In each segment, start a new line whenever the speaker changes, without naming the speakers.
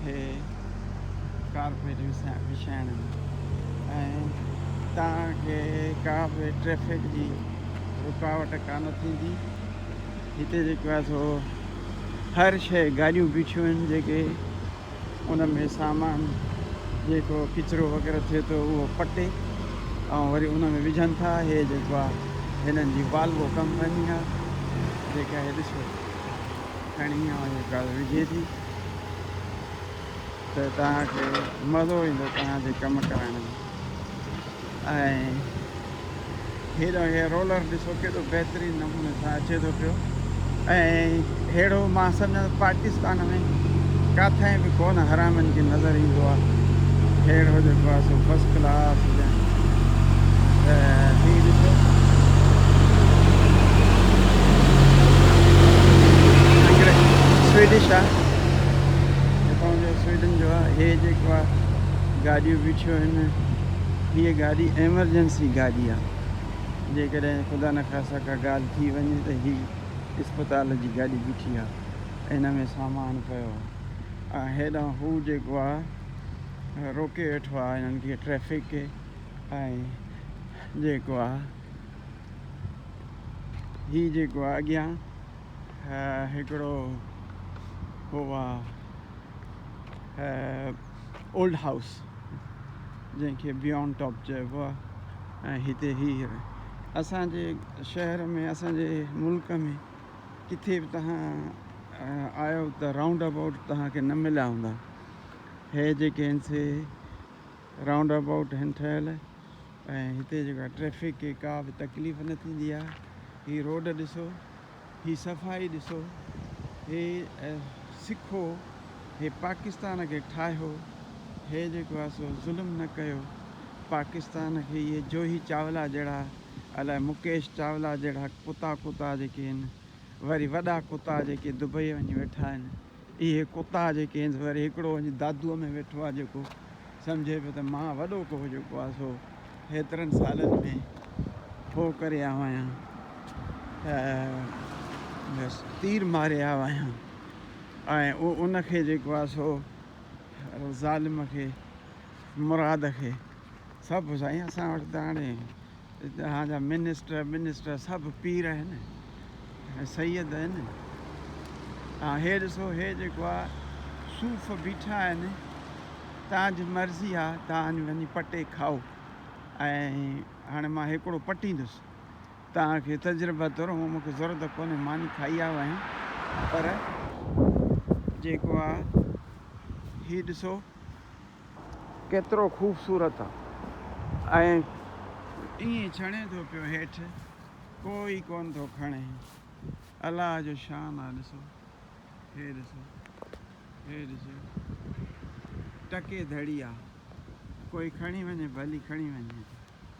کي ڪارپيٽ وڇائڻ ۾ ۽ توهان کي ڪا به ٽريفڪ جي رڪاوٽ ڪانه ٿيندي هتي جيڪو آهي سو هر شيء گاڏيون بيٺيون آهن جيڪي ان ۾ سامان جيڪو ڪچرو وغيره ٿئي ٿو اهو پٽي ۽ وري ان ۾ وجهن ٿا هي جيڪو آهي هنن جي والوو ڪمپني آهي جيڪا هي ڏسو کڻي ۽ جيڪا وجهي ٿي ته توهان کي مزو ايندو توهان جي ڪم ڪرائڻ ۾ ۽ هيڏانهن هي رولر ڏسو ڪيڏو بهترين نموني سان اچي ٿو پيو ۽ هيڙو مان سمجهان پاڪستان ۾ ڪاٿائين به ڪونه حرامين کي نظر ايندو آهي هيڙو جيڪو آهي سو فرسٽ ڪلاس سوئيڊش آ جتان جو سوئيڊن جو آ ھي جيڪو آ گاڏيون بيٺيون آھن ھيء گاڏي ايمرجنسي گاڏي آ جيڪڏھن خدا نخواسته ڪا ڳالھ ٿي وڃي ته ھي اسپتال جي گاڏي بيٺي آ ھن ۾ سامان پيو آ ھيڏانھن ھو جيڪو آ روڪي ويٺو آ هنن کي ٽريفڪ کي ۽ جيڪو آ هي جيڪو آ اڳيان هڪڙو هو آ اولڊ هائوس جنهن کي بيونڊ ٽاپ چئبو آ ۽ هتي هي اسان جي شهر ۾ اسان جي ملڪ ۾ ڪٿي به توهان آيو ته رائونڊ ابائوٽ توهان کي نه مليا هوندا هي جيڪي هن سي رائونڊ ابائوٽ هن ٺهيل ۽ هتي جيڪا ٽريفڪ کي ڪا به تڪليف نه ٿيندي آهي هي روڊ ڏسو هي صفائي ڏسو هي سکو هي پاڪستان کي ٺاهيو هي جيڪو آهي سو ظلم نه ڪيو پاڪستان کي اهي جوهي چاولا جهڙا الاء مڪيش چاولا جهڙا ڪتا ڪتا جيڪي آهن وري وڏا ڪتا جيڪي دبئي وڃي ويٺا آهن اهي ڪتا جيڪي هنس وري هڪڙو وڃي دادوء ۾ ويٺو آ جيڪو سمجهي پيو ته مان وڏو ڪوهه جيڪو آ سو هيترن سالن ۾ ٺوهه ڪري آيو آهيان ته بس تير ماري آيو آهيان ۽ ان کي جيڪو آ سو ظالم کي مراد کي سڀ سائين اسان وٽ ته هاڻي اتان جا منسٽر ٻنسٽر سڀ پير آهن ۽ سيد آهن ۽ هي ڏسو هي جيڪو آ صوف بيٺا آهن تان جي مرضي آ تان وڃي پٽي کائو ۽ هاڻي مان هيڪڙو پٽيندس تان کي تجربه طور هو مونکي ضرورت ڪونهي ماني کائي آيو آهيان پر جيڪو آ هي ڏسو ڪيترو خوبصورت آ ۽ ائين ڇڻي ٿو پيو هيٺ ڪو ئي ڪون ٿو کڻي الله جو شان آ ڏسو هي ڏسو هي ڏسو ٽڪي ڌڙي آ ڪوئي کڻي وڃي ڀلي کڻي وڃي.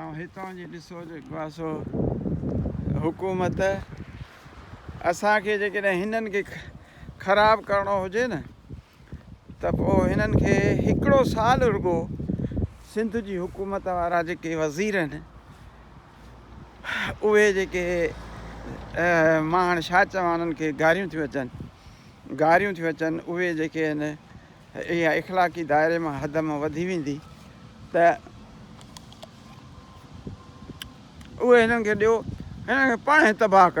۽ هتان جي ڏسو جيڪو آهي سو حڪومت اسان کي جيڪڏهن هنن کي خراب ڪرڻو هجي نه ته پوء هنن کي هڪڙو سال رڳو سنڌ جي حڪومت وارا جيڪي وزير آهن اهي جيڪي مان هاڻي ڇا چوان انهن کي گاريون ٿيون اچن گاريون ٿيون اچن اهي جيڪي آهن اها اخلاقي دائري مان حد مان وڌي ويندي ته اهي هنن کي ڏيو هنن کي پاڻ هي تباهه ڪري.